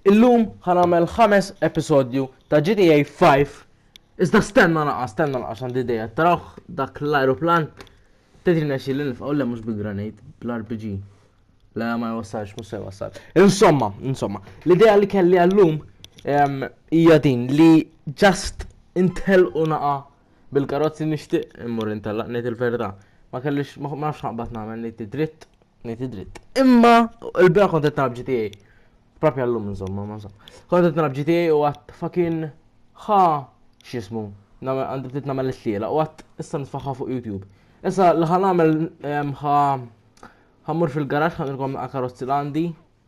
Illum ħa nagħmel ħames episodju ta' GTA 5. Iżda stenna naqa, stenna naqa x'għandi idea. Tarawh dak l-ajruplan tedri nexxi li nifqgħu le mhux bil-granit, bl-RPG. Le ma jwassalx, mhux se jwassal. Insomma, insomma, l-idea li kelli għallum hija din li just intel u naqa Bil-karozzi nixtieq immur intellaq ngħid il-verità. Ma kellix ma nafx naqbad nagħmel ngħid id-dritt, ngħid id-dritt. Imma il-bira kont qed nagħmel GTA. Propja llum insomma, ma sa. Kont qed nagħmel GTA u għadd fucking ħa x'ismu. Għandi ftit nagħmel it-tliela u għadd issa nitfaħħa fuq YouTube. Issa li ħa nagħmel ħa ħammur fil-garaġġ ħanilkom karozzi l-għandi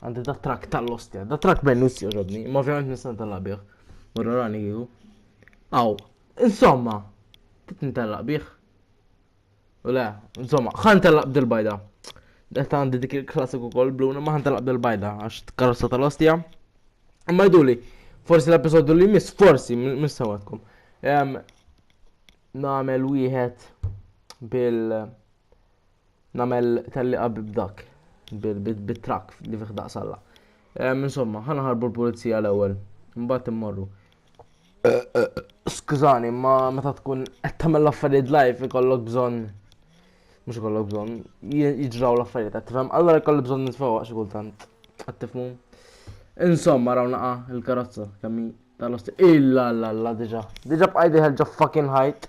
Għandi da trak tal-ostja, da trak bennus joġobni, ma ovvjament nistan tal-labieħ. Morra rani jihu. Aw, insomma, titni tal-labieħ. U le, insomma, ħan tal-lab dil-bajda. Detta għandi dik il-klassiku kol bluna, ma ħan tal-lab dil-bajda, għax t-karrossa tal-ostja. Imma jduli, forsi l-episodu li mis, forsi, mis sawatkom. Namel wieħed bil- nagħmel tellieqa b'dak bit-trakk li fih daqsalla. Insomma, ħana ħarbu l-pulizija l-ewwel, mbagħad immorru. Eh, eh, skużani, ma meta tkun qed tagħmel l-affarijiet live ikollok bżonn mhux ikollok bżonn jiġraw l-affarijiet qed tifhem, allora jkollu bżonn nitfewwa xi kultant. Qed tifhmu? Insomma, raw naqa' il-karozza kemm tal-osti. Illa la la diġà. Diġà bqajdi ħelġa fucking ħajt.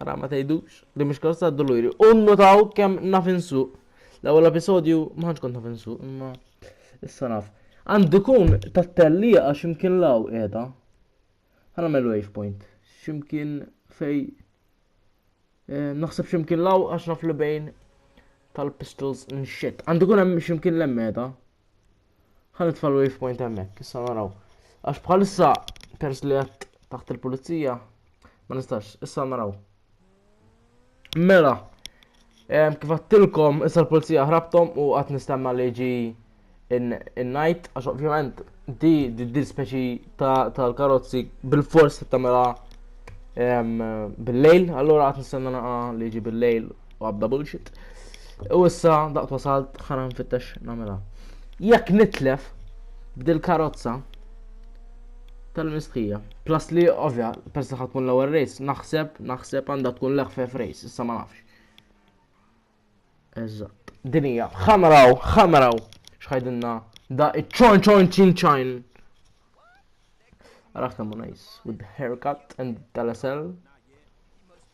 Ara ma tgħidux li mhux karozza għad-duluri. U nnutaw kemm naf insuq. L-ewwel episodju ma ħanx kont naf insuq, imma issa naf. Għandu jkun tat-tellieqa x'imkien law qiegħda. Ħana mel wave point. X'imkien fej eh, naħseb x'imkien law għax naf li bejn tal-pistols nxit. Għandu jkun hemm x'imkien l-emmeda. Ħan nitfa' l-wave point hemmhekk, issa naraw. Għax bħalissa pers li għed taħt il-pulizija, ma nistax, issa naraw. Mela, kif għattilkom, issa l-pulizija ħrabtom u għat nistenna li ġi in-night, għax ovvjament di di speċi tal-karozzi bil-fors tamela bil-lejl, allora għat nistenna li ġi bil-lejl u għabda bullshit. U issa daqt wasalt ħana nfittex namela. Jekk nitlef b'dil karozza tal-mistħija. Plus li ovvja, pers li tkun l-ewwel race, naħseb, naħseb għandha tkun l-ħfef race, issa ma nafx. Eżatt. Dinija, ħamraw, ħamraw, xħajdinna da iċ-ċon ċon ċin ċajn. Għarafna mu nice, with the haircut and tal-SL.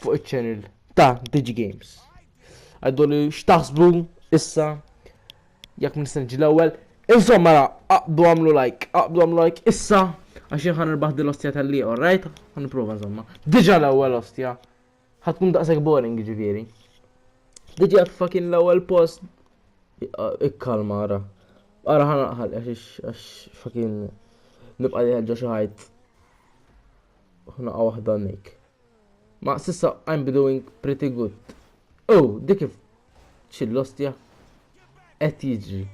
fuq iċ-channel ta' Digi Games. Għaddu li xtaħsbu issa jekk nistenġi l-ewwel. Insomma, ra, aqbdu għamlu like, aqbdu għamlu like issa għax ħan irbaħ din l-ostja tal-li, alright? Għan niprofa insomma. Diġa l-ewwel ostja. Ħatkun daqshekk boring ġifieri. Diġa fucking l-ewwel post. Ikkalma ara. Ara ħan għax fucking nibqa' li ħeġġa xi ħajt. Ħnaqa waħda nik. Ma sissa I'm doing pretty good. Oh, dik kif ċillostja qed jiġri.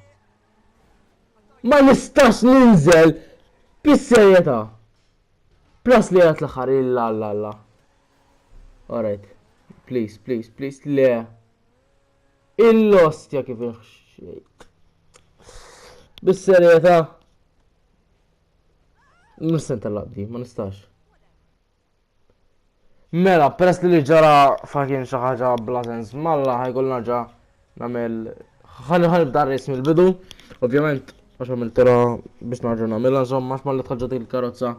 Ma nistax ninżel bis-serjetà. Plus li għat l-aħħar illa alla alla. Alright. Please, please, please. Le. Il-lost ja kif iħxejt. Bis-serjetà. Nissen tal-labdi, ma nistax. Mela, peress li li ġara fakin xi ħaġa bla sens malla ħajkun naġa nagħmel ħalli ħalli bda ris mill-bidu. Ovvjament għax għamil tira biex naġa nagħmilha żomm għax malli tħaġġet il-karozza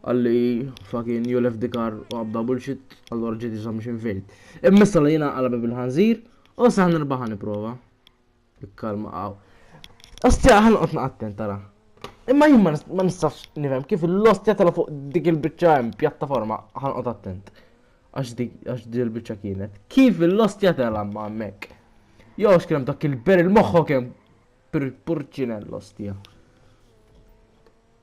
għalli fakin you left the car u għabda bullshit allura ġiet iżomm xi fejn. Immissa li jiena qalbi bil-ħanżir u saħ nirbaħ nipprova. Ikkalma qaw. Ostja ħanqod naqattent tara. Imma jien ma nistax nifhem kif l-ostja tala fuq dik il-biċċa hemm pjattaforma ħanqod attent. Għax dik għax dik il-biċċa kienet. Kif l-ostja tala ma hemmhekk. Jo x'kien dak il-ber il-moħħok hemm purċinell ostja.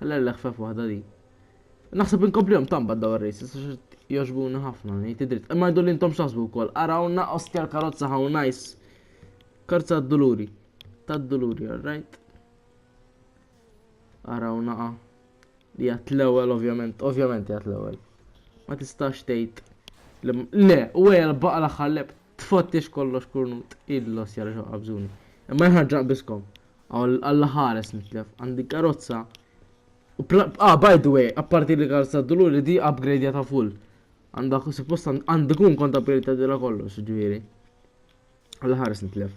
Ħalla l-leħfef waħda di. Naħseb inkomplihom tamba daw ir-races għax jogħġbuni ħafna ngħid id-dritt. Imma jdu li intom x'taħsbu wkoll. Arawna ostja l-karozza how nice. Karza d-duluri. Tad-duluri, alright. Arawna ah. li għat l-ewwel ovvjament, ovvjament għat l-ewwel. Ma tistax tgħid le, u għajja l-baqa l-aħħar leb tfottix kollox kurnut il-los jarġa' qabżuni. Imma jħarġa biskom. Alla ħares nitlef, għandi karozza. Ah, by the way, apparti li karozza d-dulur li di upgrade ta' full. Għanda suppost għandi kun kont upgrade ta' dila kollox, ġviri. Alla ħares nitlef.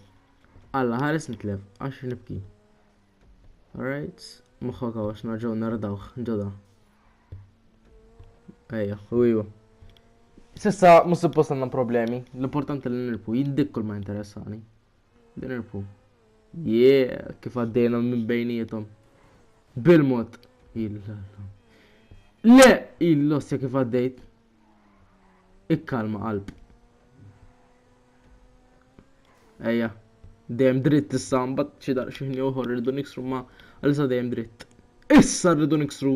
Alla ħares nitlef, għax nibki. Alright, muħħa kawax narġaw nardawħ, ġoda. Ejja, u iwa. Sissa, mus suppost għandna problemi, l-importanti li nirpu, jiddik kull ma interessani. Din irpu. Yeah, kif għaddejna minn bejnietom. Bil-mod. Le, il-lossja kif għaddejt. Ikkalma qalb. Ejja, dejjem dritt issa mbagħad xi daqsxejn ieħor irridu niksru ma għalissa dejjem dritt. Issa rridu niksru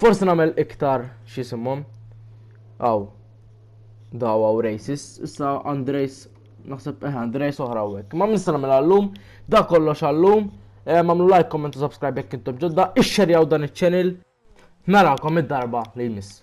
Forse nagħmel iktar x'isimhom. Aw. Daw aw racist. Issa Andrejs naħseb eh Andrejs oħra hekk. Ma nista' nagħmel għallum, da kollox għallum. Mamlu like, comment u subscribe jekk intom ġodda, ixxerjaw dan iċ-channel. Narakom id-darba li jmiss.